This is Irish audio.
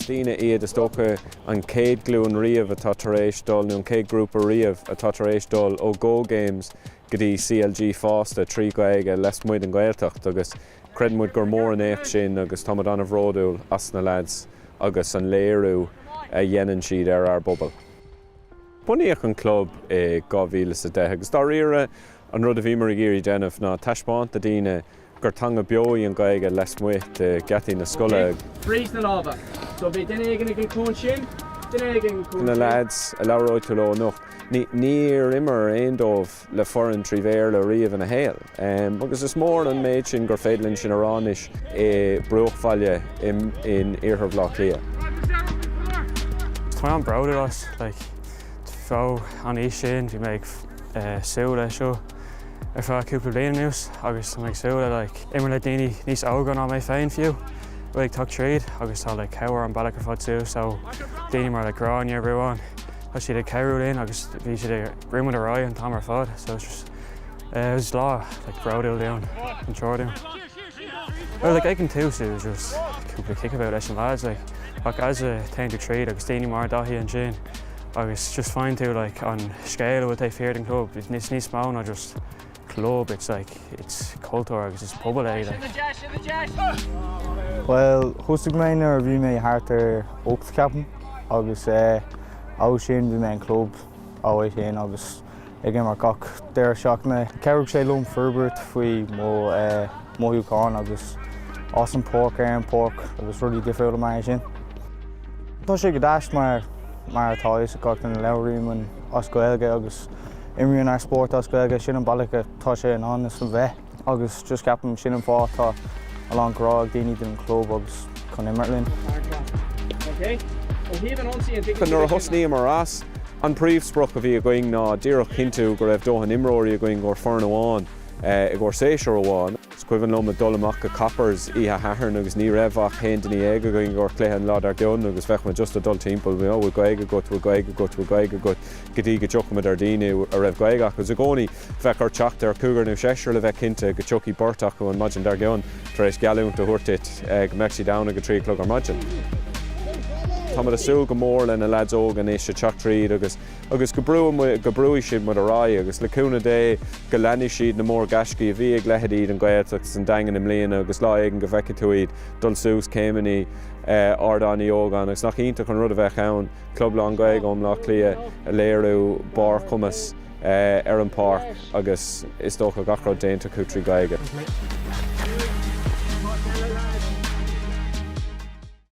Is daoine iad, is dócha, an chéad ghlúin riamh atá tar éis dul, nó an chéad ghrúpa riamh atá tar éis dul ó Go Games go dtí CLG fásta, trí Ghaeilge, lasmuigh den Ghaeltacht agus creideann muid gur mór an éacht sin agus tá muid an-bhródúil as na leaids agus an léiriú a dhéanann siad ar ár bpobal. Bunaíodh an club i 2010 agus dáiríre an rud a bhíomar ag iarraidh déanamh ná taispeáint do dhaoine, gur teanga beo í an Ghaeilge lasmuigh de gheataí na scoile. Na leaids a labhróidh tú leo anocht, níor imir aon dóibh le foireann trí Bhéarla riamh ina saol agus is mór an méid sin gur féidir linn sin a rá anois i bruachbhaile in iarthar Bhaile Átha Cliath. Tá mé an-proud of that, like, ó an aois sin bhí mé ag súil leis seo. ar feadh cúpla bliain anuas agus tá mé ag súil le imirt le daoine níos óga ná mé féin fiú, ag teacht tríd agus tá le cabhair an bealach ar fad suas ó daoine mar Gráinne Ruán, tá siad ag cabhrú linn agus bhí siad ag brú muid ar aghaidh an t-am ar fad so is lá bródúil dúinn an triúr dúinn. Bhuel, like, ag an tús, it was just cúpla kickabout leis an lads, like, ach as a théann tú tríd agus daoine mar Daithí ansin agus just faigheann tú, like, an scéal a bhfuil taobh thiar den chlub, it's níos níos mó ná just club, it's like, it's cultúr agus it's pobal é, like. Bhuel, thosaigh mé nuair a bhí mé thart ar ocht ceapaim agus eh, ó sin bhí mé leis an club ó é sin agus ag imirt gach deireadh seachtaine. Chabhraigh sé liom forbairt faoi mo mhothúcháin agus as an páirc ar an páirc agus rudaí difriúla mar é sin. Tá sé go deas mar mar atá a fhios ag gach duine labhraímid as Gaeilge agus imrímid ár spórt as Gaeilge, sin an bealach atá sé in ainm is a bheith. agus just ceapaim sin an fáth tá a lán grá ag daoine don chlub agus chun imirt linn. Nuair a thosnaíomar as, an príomhsprioc a bhí againn ná díreach cinntiú go raibh dóthain imreoirí againn i gcomhair foireann amháin eh, i gcomhair séasúr amháin. Is cuimhin liom ag dul amach go Coppers oíche Shathairn agus ní raibh ach haon duine éag againn i gcomhair cluiche an lá dár gcionn agus bheadh muid just ag dul timpeall bhfuil Gaeilge agat, bhfuil Gaeilge agat, bhfuil Gaeilge agat go dtí go dtiocfadh muid ar daoine a raibh Gaeilge acu. Is i gcónaí Bheadh ort teacht ar cúigear nó seisear le bheith cinnte go dtiocfadh beirt acu an maidin dár gcionn tar éis geallúint a thabhairt duit go mbeadh siad ann ag a trí a chlog ar maidin. Táimid ag súil go mór le na leaids óga anois ag teacht tríd agus agus go brúfaidh muid, go brúfaidh siad muid ar aghaidh agus le cúnamh Dé go leanfaidh siad na mór ghaiscí a bhí ag leithéidí An Ghaeltacht agus an Daingin i mbliana agus lá éigin go bhfeicfidh tú iad ag dul suas céimeannaí Ardán Uí Ógáin agus nach iontach an rud a bheadh ann club lán Gaeilge ó Bhleá Cliath ag léiriú barr cumais ar an bpáirc agus is dócha gach rud déanta acu trí Ghaeilge.